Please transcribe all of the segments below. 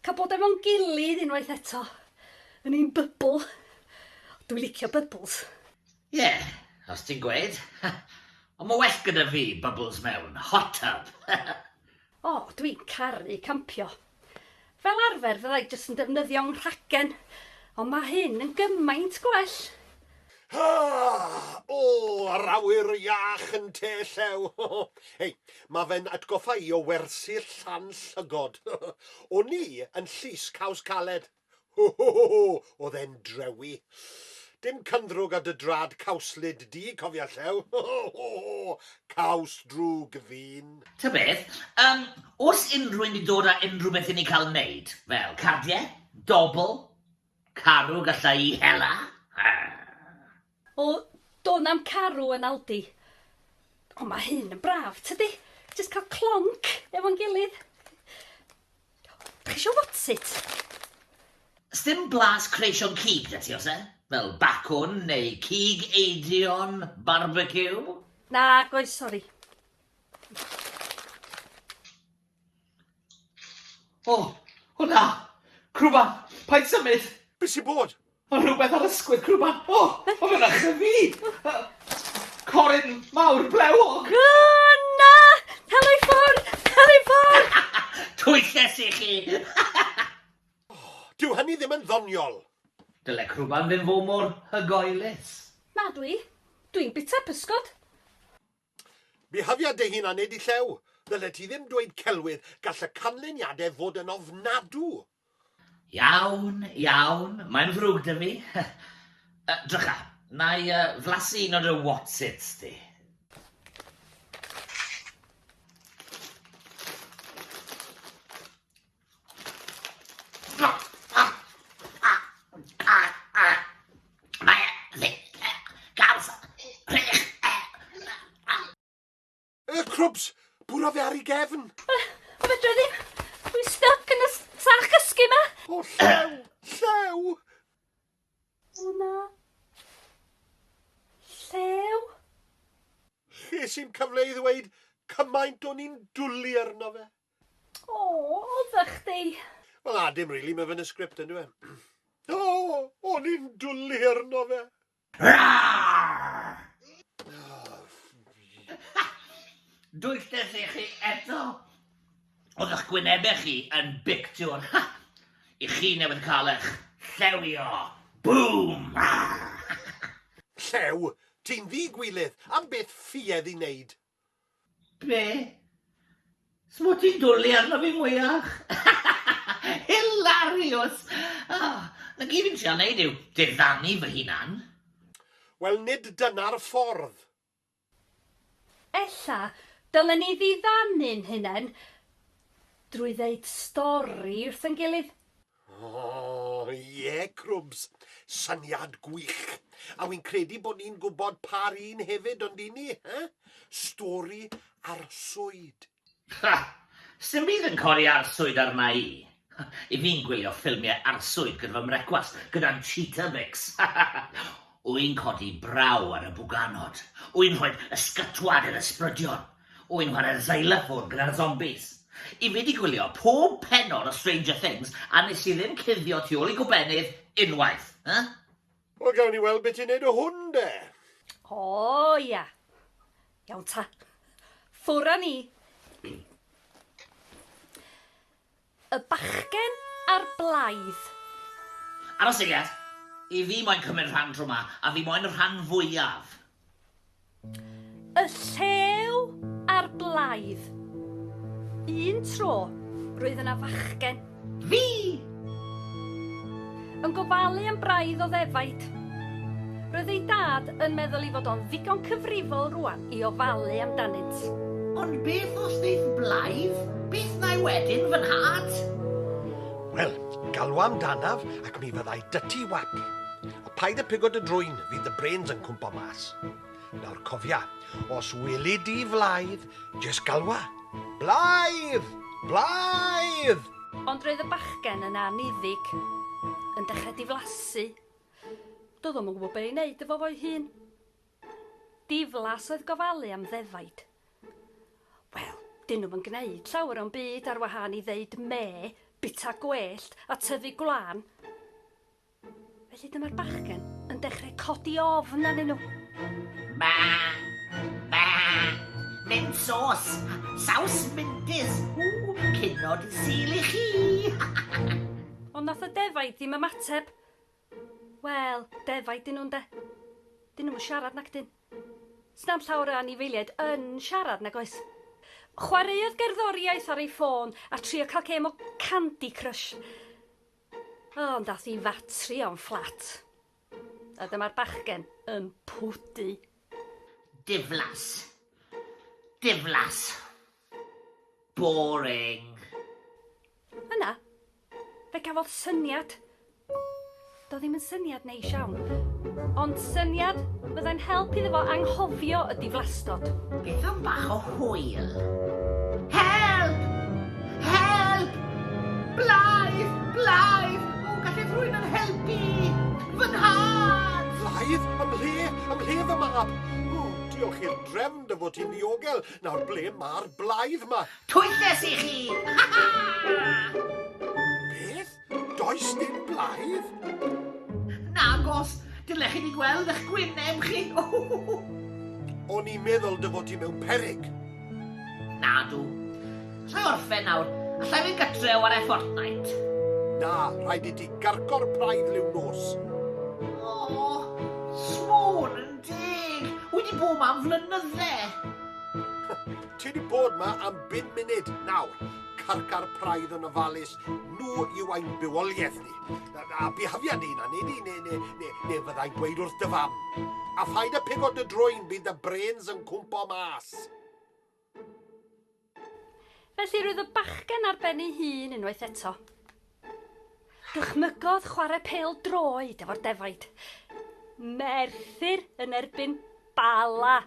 Cael bod efo'n gilydd unwaith eto, yn ein bybl. Dwi'n licio bybls. Ie, yeah, os ti'n gweud. Ond mae well gyda fi bubbles mewn hot tub. o, oh, dwi'n caru campio. Fel arfer fyddai jyst yn defnyddio'n rhagen, ond mae hyn yn gymaint gwell. Haa! O! Yr awyr iach yn te llew! Hei, mae fe'n atgoffa i o wersi'r llan llygod. O'n i yn llys caws caled. Ho ho ho ho! Oedd e'n drewi. Dim cynddrwg ar dy drad cawslyd di, cofia llew. Ho ho ho ho! Caws drwg ddyn. Ta beth, yym, oes unrhywun 'di dod â unrhywbeth i ni cael 'neud? Fel, cardiau? Dobl? Carw gallai i hela. O, do na'm carw yn Aldi. Ond mae hyn yn braf, tydi? Jyst cael clonc efo'n gilydd. Dach chi isio whatsit? Sdim blas creision cig 'da ti, oes e? Fel bacwn neu cig eidion barbeciw? Nag oes, sori. O! O na! Crwban! Paid symud! Be sy'n bod? Mae rhywbeth ar ysgwydd crwban! O! O mae'n achlyfu! Corin mawr blewog! O na! Cael ei ffwrdd! Cael ei ffwrdd! Twyllus i chi! Dyw hynny ddim yn ddoniol! Dyle crwban ddim fod mor hygoelus. Nadw i. Dwi'n bita pysgod. Byhafia dy hun a nid y llew. Ddyle ti ddim dweud celwydd, gall y canlyniadau fod yn ofnadw. Iawn, iawn, mae'n ddrwg da fi. Yy, drycha, na i yy flasu un o dy whatsits di. Y crwbs! Bwrodd e ar ei gefn! O fedra ddim! Dwi'n stuck yn y sach gysgu ma! O llew! Llew! O na! Llew! Ches i'n cyfle i ddweud cymaint o'n i'n dwli arno fe. Aww, odda chdi! Wel na, dim rili, mae fe yn y sgript yndyw e? O! O'n i'n dwli arno fe! Dwylles i chi eto! Oedd eich gwynebau chi yn bictiwr! I chi newydd cael eich llewio! Bŵm! Llew? Ti'n ddi-gwilydd! Am beth ffuedd i wneud? Be? Smwt ti'n dwli arno fi mwyach? Hilarious! Ah, na gyd fi'n trio neud yw diddanu fy hunan. Wel nid dyna'r ffordd. Ella dylen ni ddiddanu'n hunen drwy ddeud stori wrth ein gilydd. Oh, ie, Crwbs. Syniad gwych. A wi'n credu bod ni'n gwybod pa'r un hefyd, ond i ni, he? Stori arswyd. Ha! Sdim byd yn codi arswyd arna i. I fi'n gwylio ffilmiau arswyd gyda fy mrecwast, gyda'n cheetah mix. Wy'n codi braw ar y bwganod. Wy'n rhoi ysgytwad i'r ysbrydion. Wy'n chwarae'r xylophone gyda'r zombies. I fi 'di gwylio pob pennod o Stranger Things a nes i ddim cuddio tu ôl i gobennydd unwaith. Huh? Wel gawn ni weld be ti'n neud o hwn de! O ia. Iawn ta. Ffwr a ni. Y bachgen a'r blaidd. Ar y seiat, i fi moyn cymryd rhan tro ma, a fi moyn y rhan fwyaf. Y llew a'r blaidd. Un tro, roedd yna fachgen. Fi! Yn gofalu am braidd o ddefaid. Roedd ei dad yn meddwl ei fod o'n ddigon cyfrifol rwan i ofalu amdanynt. Ond beth os ddeith blaidd? Beth wnai wedyn, fy nhad? Wel, galw amdanaf ac mi fyddai dyty wap. A paid â pigo dy drwyn, fydd dy brains yn cwmpo mas. Nawr cofia, os weli di flaidd, jes galwa, Blaidd! Blaidd! Ond roedd y bachgen yn aniddig, yn dechrau diflasu. Doedd o'm yn gwybod be' i wneud efo fo'i hun. Diflas oedd gofalu am ddefaid. Wel, 'dyn nhw'm yn gneud llawer o'm byd ar wahân i ddeud mê, bita gwellt a tyfu gwlân. Felly dyma'r bachgen yn dechrau codi ofn arnyn nhw. Ba! Ba! Mynd sos! Saws mendys! Ww, cynod i sil i chi! Ond nath y defaid ddim ymateb. Wel, defaid dyn nhw'n de. Dyn nhw'n siarad nac dyn. Snam llawer o anifeiliaid yn siarad nag oes. Chwaraeodd gerddoriaeth ar ei ffôn a trio cael gêm o Candy Crush. O, ond ath i fatri o'n fflat. A dyma'r bachgen yn pwdu. Diflas. Diflas. Boring. Yna, fe gafodd syniad. Do ddim yn syniad Neis iawn. Ond syniad fyddai'n help iddo fo anghofio y diflastod. Beth am bach o hwyl? Help! Help! Blythe! Blythe! O, gallai rhywun yn helpu! Fy nhad! Blythe? Ym mhle? Ym mhle fy mab? O, diolch i'r drefn dy fod ti'n ddiogel. Nawr, ble mae'r Blythe 'ma? Twylles i chi! Ha ha! Beth? Does dim blaidd? Nagos, dylech chi ni gweld eich gwyneb chi. O'n i'n meddwl dy fod ti mewn perig. Nadw. Allai orffen nawr. Allai fynd gytre o ar Fortnite. Na, rhaid i ti gargo'r praidd liw nos. O, oh, smôn yn deg. Wedi bod ma am flynydde. Ti wedi bod ma am bum munud nawr. Carcar praidd yn ofalus Nhw yw ein bywoliaeth ni. A bihafiad ni'n anni ni, neu, neu, neu, neu fyddai'n gweud wrth dy fam. A phaid â pigo dy drwyn, bydd dy brens yn cwmpo mas. Felly roedd y bachgen ar ben ei hun unwaith eto. Dychmygodd chwarae pêl droed efo'r defaid. Merthyr yn erbyn Bala.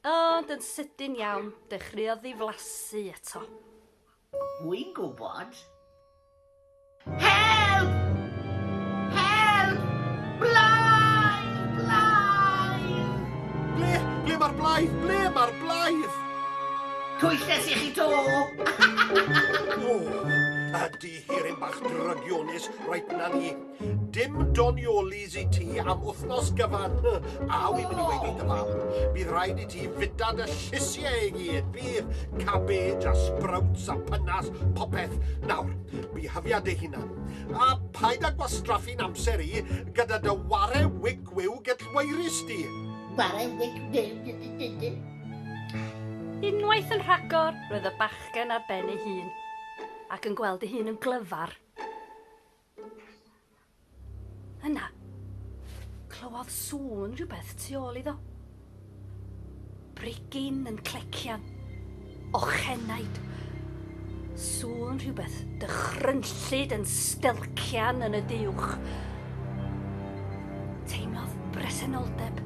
Ond yn sydyn iawn, dechreuodd ddiflasu eto. Mwy gwybod? Help! Help! Blai! Blai! Ble? Ble mae'r blai? Ble mae'r blai? Twyllus i chi to! o, ydy hi'r un bach drygionus, rhaid na ni. Dim doniolis i ti am wythnos gyfan. A wy'n mynd i weid i dy fam. Bydd rhaid i ti fita dy llysiau i gyd. Fydd cabbage a sprouts a pynas, popeth. Nawr, bihyfia dy hunan. A paid â gwastraffu'n amser i gyda dy ware wic wiw gydlweirus di. Ware wic wiw Unwaith yn rhagor, roedd y bachgen ar ben ei hun, ac yn gweld ei hun yn glyfar. Yna, clywodd sŵn rhywbeth tu ôl iddo. Brigyn yn clecian. Ochenaid. Sŵn rhywbeth dychrynllyd yn stelcian yn y diwch. Teimlodd bresenoldeb.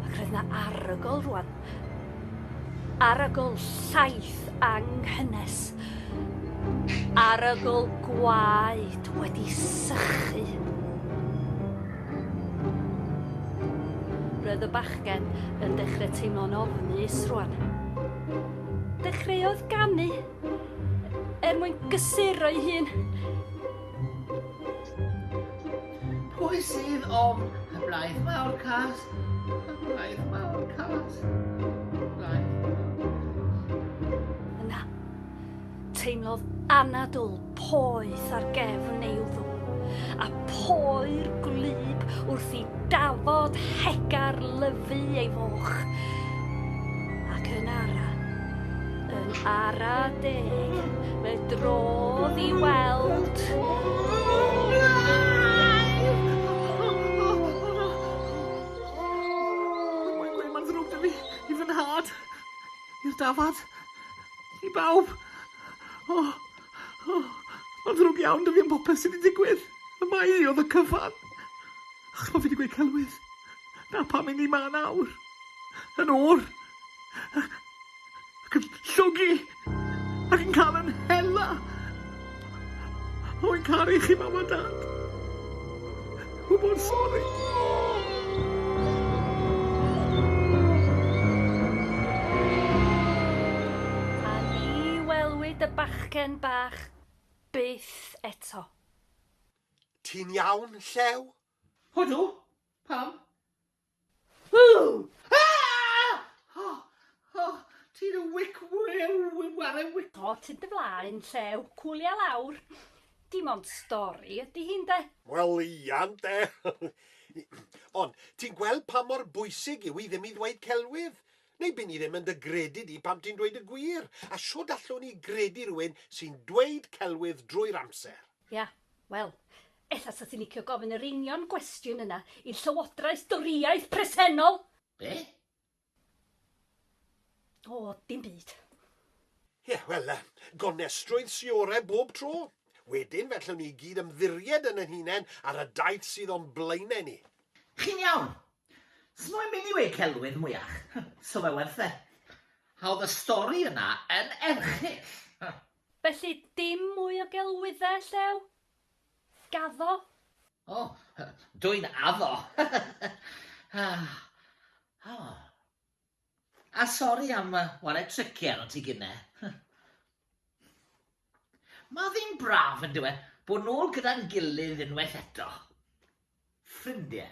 Ac roedd na arogl rwan. Arogl llaeth anghynnes. Arogl gwaed wedi sychu. Roedd y bachgen yn dechrau teimlo'n ofnus rwan. Dechreuodd ganu er mwyn gysuro'i hun. Pwy sydd ofn y blaeth mawr cas? Y blaeth mawr cas. Y blaeth Yna, teimlodd anadl poeth ar gefn ei wddw, a poer gwlyb wrth i dafod hegar lyfu ei foch. Ac yn ara, Yn ara deg, fe drodd i weld... Mae'n gweud mae'n ddrwg 'da fi, i fy nhad, i'r dafad, i bawb. O, o, mae'n ddrwg iawn 'da fi am popeth sydd 'di digwydd, y mae hi oedd y cyfan. Achos pan fi 'di gweud celwydd, 'na pam 'yn ni 'ma nawr, yn oer. ac yn llogi ac yn cael yn hela. Rwy'n caru chi, Mam a Dad. Rwy mor sori. A ni welwyd y bachgen bach byth eto. Ti'n iawn, Llew? Odw. Pam? Ww! Aaahh! O! O! Ti'n y wic wrew ware wic. O ti'n dy flaen llew, cwlia lawr. Dim ond stori ydy hi ynde? Wel ia ynde! Ond ti'n gweld pa mor bwysig yw i ddim i ddweud celwydd? Neu by' ni ddim yn dy gredu di pan ti'n dweud y gwir, a shwd allwn ni gredu rhywun sy'n dweud celwydd drwy'r amser? Ia, wel, ella 'sa ti'n licio gofyn yr union gwestiwn yna i'r Llywodraeth Dorïaidd presennol! Be? O, dim byd. Ie, wel, gonestrwydd sy orau bob tro. Wedyn, fe allwn ni i gyd ymddiried yn ein hunain ar y daith sydd o'n blaenau ni. Chi'n iawn. S'mo'm un i weud celwydd mwyach. So fe werth e. Hawdd y stori yna yn erchyll. Felly dim mwy o gelwyddau, Llew? Gaddo? O, dw i'n addo! A sori am ware tricie arnot ti gynne. Mae ddim braf, yn dyw e, bod nôl gyda'n gilydd unwaith eto. Ffrindiau.